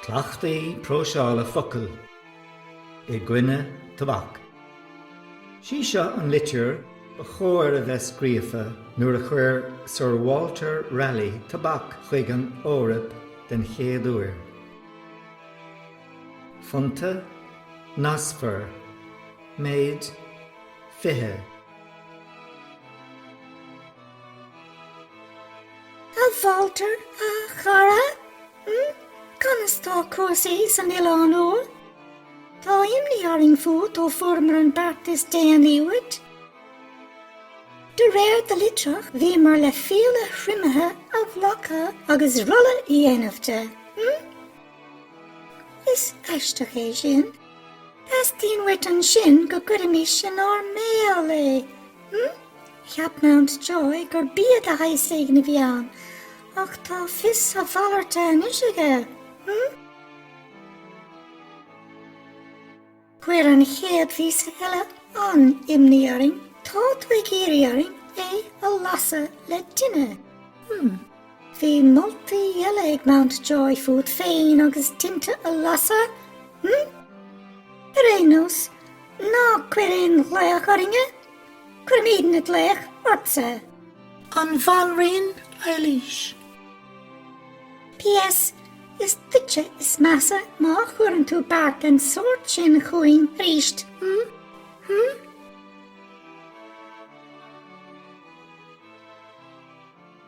Cleachtaí próiseála focal i gcoinne tobac. Is í seo an litir ba chóir a bheith scríofa nuair a thug Sir Walter Raleigh tobac chuig an Eoraip den chéad uair. Fondta Naspers. Méid, 20. A Walter, a chara, Hm? Conas tá cúrsaí san Oileán Úr? Tá imní orainn fút ó fuaireamar an beart is déanaí uait. De réir do litreach, bhíomar le fiaile thriomaithe a ghlacadh agus rolla a dhéanamh de. Hm? Is aisteach é sin. Teastaíonn uait ansin go gcuirfimis inár mbéal é, hmm? Cheap Mountjoy gur bia de shaghas éigin a bhí ann, ach tá fios a mhalairte anois aige, hmm? Chuir an chéad phíosa eile an-imní orainn, tá tú ag iarraidh orainn é a lasadh le tine, hmm? Bhí moltaí eile ag Mountjoy fút féin agus tinte a lasadh, hm? Ar aon nós, ná cuir aon ghlaoch orainne, cuirfimidne glaoch ortsa! An Bhanríon Eilís. P.S. Is duitse is measa má chuireann tú beart den tsórt sin chugainn arís, hm? Hm?